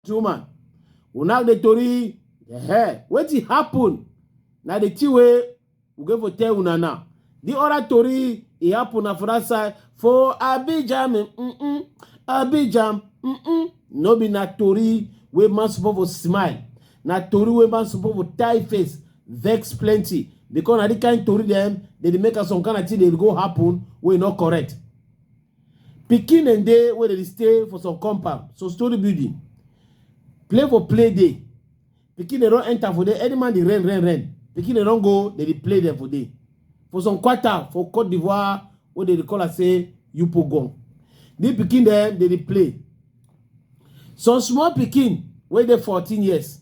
woman una dey tori eh wetin happen na the thing wey we go for tell una now the other tori e happen na for that side for abidjan mm -mm, abidjan mm -mm. no be na tori wey man suppose for smile na tori wey man suppose for tie face vex plenty because na the kind tori dem dey dey make am some kind of thing dey go happen wey no correct pikin dem dey wey dey stay for some compound so story building play for play dey pikin dem don enter for there any man dey rain rain rain pikin dem don go dey dey play dem for there for some quarter for cote d'ivoire wey dey dey call am say yupogon the pikin dem dey dey play some small pikin wey dey fourteen years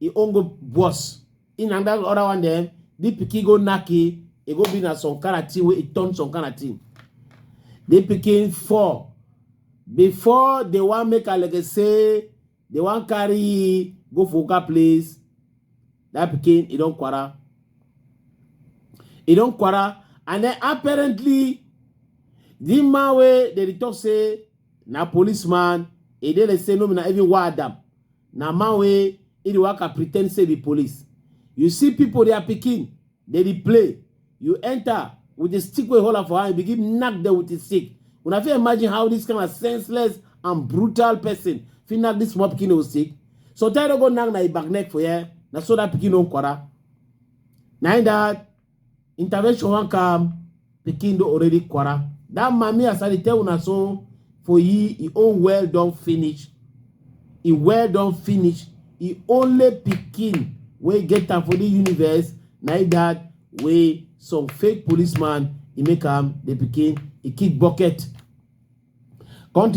e own go worse in and that other one dem the pikin go knack e e go be na some kind of thing wey e turn some kind of thing the pikin fall before they wan make alege say they wan carry e go for oga place that pikin e don kwara e don kwara and then apparently the man wey dey talk say na policeman e dey like say no be na even why adam Na man wey e dey waka pretend say be police. You see people their pikin dey dey play. You enter with the stick wey hold am for hand, you begin knack them with the stick. Una fit imagine how this kind of senseless and brutal person fit knack this small pikin with stick. Sometimes you go knack na e back neck for here. Na so that pikin don kwara. Na im that intervention wan come pikin don already quarrel that mami as i dey tell una so for ye e own well don finish e well don finish e only pikin wey get am for the universe na e that wey some fake policeman e make am the pikin e kick bucket. Country